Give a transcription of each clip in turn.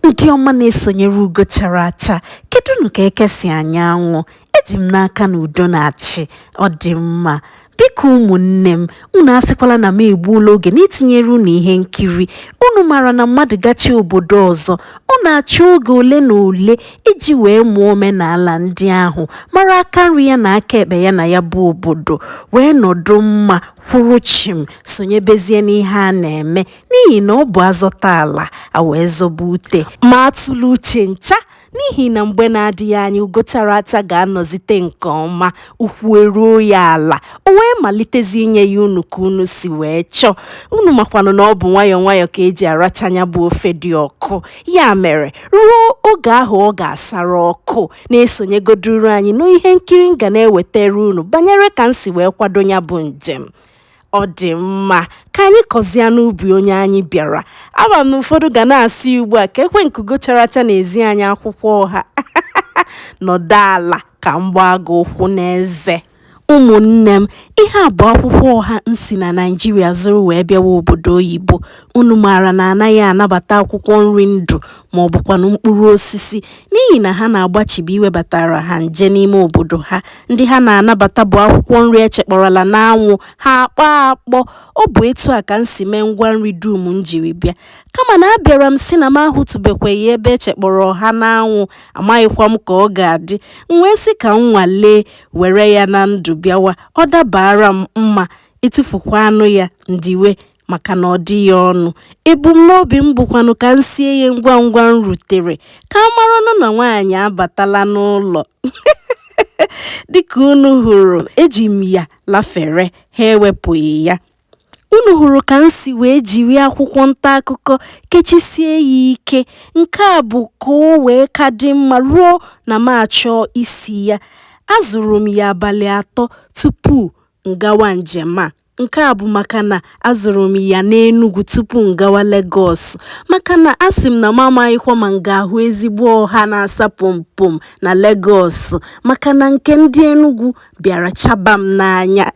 Ndị ọma na-esonyere ugo chara acha, kedụnụ ka eke si anya anwụ? Eji m n'aka na udo na-achị, ọ dị mma. Biko ụmụnne m, unu asịkwala na m egbuola oge n'itinyere unu ihe nkiri. Unu maara na mmadụ gachi obodo ọzọ, ọ na-achọ oge ole na ole iji wee mụọ omenala ndị ahụ, mara aka nri ya na aka ekpe ya na ya bụ obodo, wee nọdụ mma, kwụrụ chịm, sonyebezie n'ihe a na-eme. n'ihi na ọ bụ azọta ala a wee zọba ute ma atụla uche ncha n'ihi na mgbe na-adịghị anya ugo chara acha ga-anọzite nke ọma ụkwụ eruo ya ala o wee malitezi inye ya unu ka unu si wee chọọ unu makwanụ na ọ bụ nwayọọ nwayọọ ka eji aracha nya bụ ofe dị ọkụ ya mere ruo oge ahụ ọ ga-asara ọkụ na-esonyegoduru anyị n'ihe nkiri m ga na-ewetara unu banyere ka m si wee kwado ya bụ njem ọ dị mma ka anyị kọzịa n'ubi onye anyị bịara ama m na ụfọdụ ga na-asị ugbu a kekwa nke ugo chara acha na-ezi anyị akwụkwọ ọha nọdụ ala ka m gbaa gị ụkwụ n'eze ụmụnne m ihe a bụ akwụkwọ ọha m si na naijiria zụrụ wee bịawa obodo oyibo unu maara na anaghị anabata akwụkwọ nri ndụ ma ọ bụkwanụ mkpụrụ osisi n'ihi na ha na-agbachibi iwebatara ha nje n'ime obodo ha. Ndị ha na-anabata bụ akwụkwọ nri echekpọrọla n'anwụ, ha akpọọ akpọ. Ọ bụ etu a ka m si mee ngwa nri dum m jiri bịa. Kama na abịara m sị na m ahụtụbekweghị ebe echekpọrọ ọha n'anwụ, amaghịkwa m ka ọ ga-adị. M wee sị ka m nwalee were ya na ndụ bịawa. Ọ dabaara m mma, etufukwaanụ ya, m diwe. maka na ọ dịghị ọnụ ebumnobi m bụkwanụ ka m sie ya ngwa ngwa m rutere ka a maranụ na nwaanyị abatala n'ụlọ dịka unu hụrụ eji m ya lafere ha ewepụghị ya unu hụrụ ka m si wee jiri akwụkwọ nta akụkọ kechisie ya ike nke a bụ ka o wee ka dị mma ruo na m achọọ isi ya azụrụ m ya abalị atọ tupu m gawa njem a Nke a bụ maka na azụrụ m ya n'Enugwu tupu m gawa Legọs maka na asị m na m amaghịkwa ma m ga-ahụ ezigbo ọha na-asa pompom na Legọs maka na nke ndị Enugwu bịara chaba m n'anya.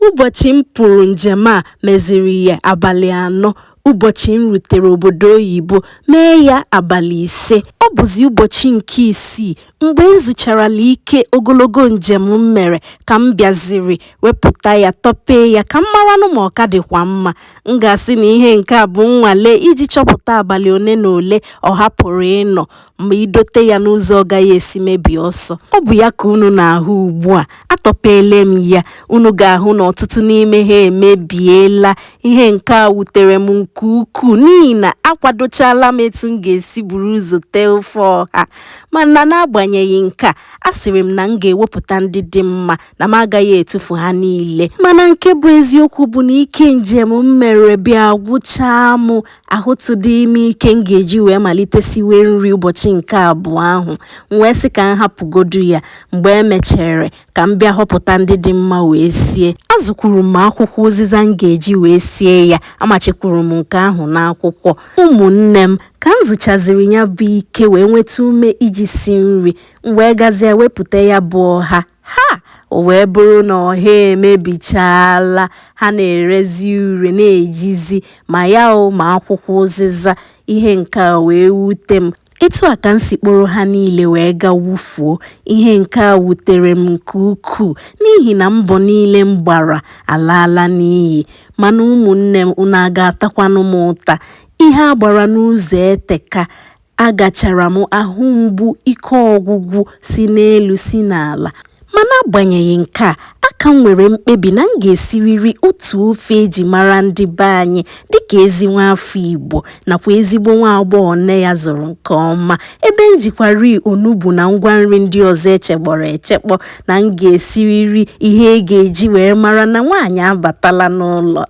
Ụbọchị m pụrụ njem a meziri ya abalị anọ. Ụbọchị m rutere obodo oyibo mee ya abalị ise, ọ bụzi ụbọchị nke isii mgbe m zụcharala ike ogologo njem m mere ka m bịaziri wepụta ya tọpee ya ka m maranụ ma ọ ka dịkwa mma. M ga-asị na ihe nke a bụ nnwale iji chọpụta abalị ole na ole ọha pụrụ ịnọ. ma idote ya n'ụzọ ọ gaghị esi mebie ọsọ ọ bụ ya ka unu na-ahụ ugbu a atọpeele m ya unu ga-ahụ na ọtụtụ n'ime ha emebiela ihe nke a wutere m nke ukwuu n'ihi na akwadochala m etu m ga-esi buru ụzọ tee ofe ọha mana n'agbanyeghị nke a asịrị m na m ga-ewepụta ndị dị mma na m agaghị etufu ha niile mana nke bụ eziokwu bụ na ike njem m mere bịa gwụchaa m ahụtụdịghị m ike m ga-eji wee malite siwe nri ụbọchị nke abụọ ahụ m wee sị ka m hapụgodu ya mgbe e mechere ka m bịa họpụta ndị dị mma wee sie azụkwuru m akwụkwọ ụzịza m ga-eji wee sie ya amachikwuru m nke ahụ n'akwụkwọ ụmụnne m ka m zuchaziri ya bụ ike wee nweta ume iji si nri m wee gazie wepụta ya bụ ọha Ha! O wee bụrụ na ọha emebichaala, ha na-erezi ure na-ejizi ma ya o ma akwụkwọ ụzịza. Ihe nke a wee wute m. Etu a ka m si kporo ha niile wee ga wufuo. Ihe nke a wutere m nke ukwuu n'ihi na mbọ niile m gbara alaala n'iyi. Mana ụmụnne m, unu a ga-atakwanụ m ụta? Ihe a gbara n'ụzọ eteka. Agachara m ahụ mgbu ike ọgwụgwụ si n'elu si n'ala, ma n'agbanyeghị nke a, aka m nwere mkpebi na m ga-esiriri otu ofe e ji mara ndị be anyị dịka ezi nwaafọ Igbo nakwa ezigbo nwaagbọghọ nne ya zụrụ nke ọma, ebe m jikwari onugbu na ngwa nri ndị ọzọ e chekpọrọ echekpọ na m ga-esiriri ihe ị ga-eji wee mara na nwaanyị abatala n'ụlọ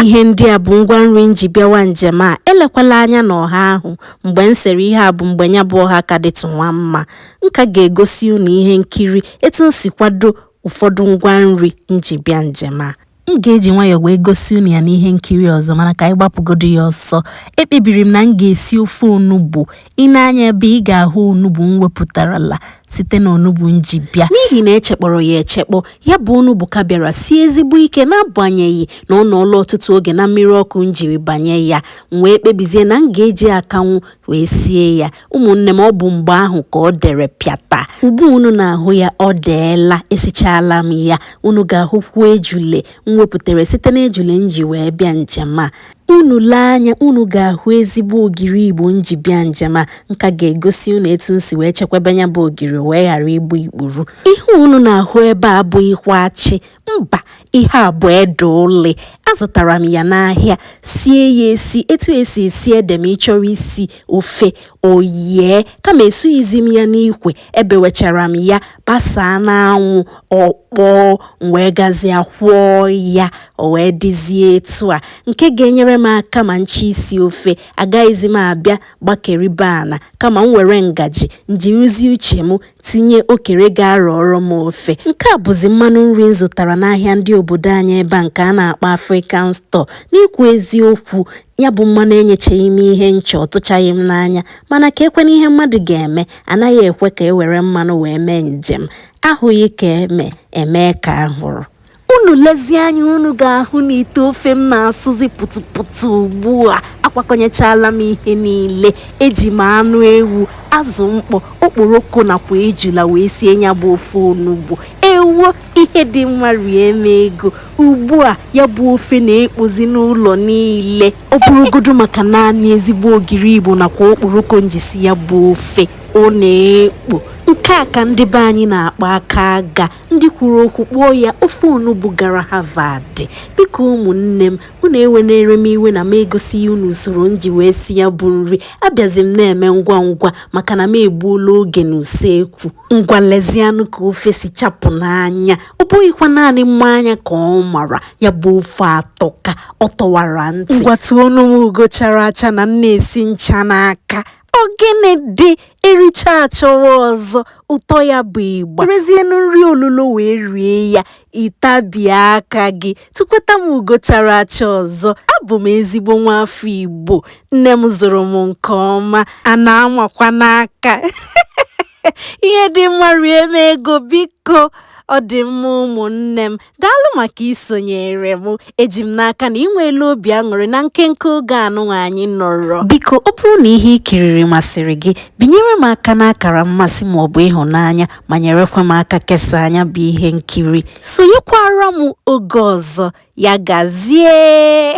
ihe ndị a bụ ngwa nri m ji bịawa njem a elekwala anya n'ọha ahụ mgbe m sere ihe a bụ mgbe ya bụ ọha ka dịtụ nwa mma m ka ga-egosi unu ihe nkiri etu m si kwado ụfọdụ ngwa nri m ji bịa njem a M ga-eji nwayọọ wee gosi unu ya n'ihe nkiri ọzọ mana ka anyị gbapụgodu ya ọsọ. Ekpebiri m na m ga-esi ofe onugbu. I lee anya ebe a ị ga-ahụ onugbu m wepụtarala site na onugbu m ji bịa. N'ihi na e chekpọrọ ya echekpọ, ya bụ onugbu ka bịara sie ezigbo ike n'agbanyeghị na ọ nọọla ọtụtụ oge na mmiri ọkụ m jiri banye ya. M wee kpebizie na m ga-eji akanwụ wee sie ya. ụmụnne m ọ bụ mgbe ahụ ka o dere pịata ugbu unu na-ahụ ya o deela esichala m ya unu ga-ahụkwu ejule m wepụtara site n'ejule m ji wee bịa njem a unu lee anya unu ga-ahụ ezigbo ogiri igbo m ji bịa njem a m ka ga-egosi unu etu m si wee chekwaba ya bụ ogiri wee ghara igbu ikpuru ihe unu na-ahụ ebe a abụghịkwa achị mba ihe a bụ ede uli azụtara m ya n'ahịa sie ya esi etu e si esi ede ma ị chọrọ isi ofe o yie kama esughịzi m ya n'ikwe ebewechara m ya gbasaa n'anwụ ọ kpọọ m wee gazie kwọọ ya o wee dịzie etu a nke ga-enyere m aka ma m chọọ isi ofe agaghịzi m abịa gbakeribe ana kama m were ngaji m jirizi uche m tinye okere ga-arọọrọ m ofe nke a bụzi mmanụ nri m zụtara n'ahịa ndị obodo anyị ebe a nke a na-akpọ African Store n'ikwu eziokwu ya bụ mmanụ enyechaghị m ihe m chọ ọ tụchaghị m n'anya mana ka ekwe n'ihe mmadụ ga-eme anaghị ekwe ka e were mmanụ wee mee njem ahụghị ka eme e mee ka a hụrụ unu lezie anya unu ga-ahụ na ite ofe m na-asụzi pụtụpụtụ ugbu a akwakọnyechala m ihe niile eji m anụ ewu azụ mkpọ okporoko nakwa ejula wee sie ya bụ ofe onugbu ewo ihe dị mma rie m ego ugbu a ya bụ ofe na-ekpozi n'ụlọ niile ọ bụrụgodu maka naanị ezigbo ogiri igbo nakwa okporoko m ji si ya bụ ofe ọ na-ekpo nke a ka ndị be anyị na-akpọ aka aga ndị kwuru okwu kpọọ ya ofe onugbu gara Harvard biko ụmụnne m unu ewenere m iwe na m egosighị unu usoro m ji wee si ya bụ nri abịazi m na-eme ngwa ngwa maka na m egbuola oge n'usekwu ngwa lezianụ ka ofe si chapụ n'anya ọ bụghịkwa naanị mma anya ka ọ mara ya bụ ofe atọka ọ tọwara ntị ngwa tụọnụ m ugo chara acha na m na-esi ncha n'aka ọ gịnị dị ericha achọwa ọzọ ụtọ ya bụ ịgba werezienụ nri olulo wee rie ya ị tabie aka gị tụkweta m ugo chara acha ọzọ abụ m ezigbo nwa afọ Igbo nne m zụrụ m nke ọma a na-amakwa n'aka ihe dị mma rie m ego biko ọ dị mma ụmụnne m daalụ maka isonyere m eji m n'aka na ị nweela obi aṅụrị na nkenke oge anụnwa anyị nọrọ biko ọ bụrụ na ihe ị kiriri masịrị gị binyere m aka n'akara mmasị ma ọ bụ ịhụnanya ma nyerekwa m aka kesaa nya bụ ihe nkiri sonyekwara m oge ọzọ ya gazie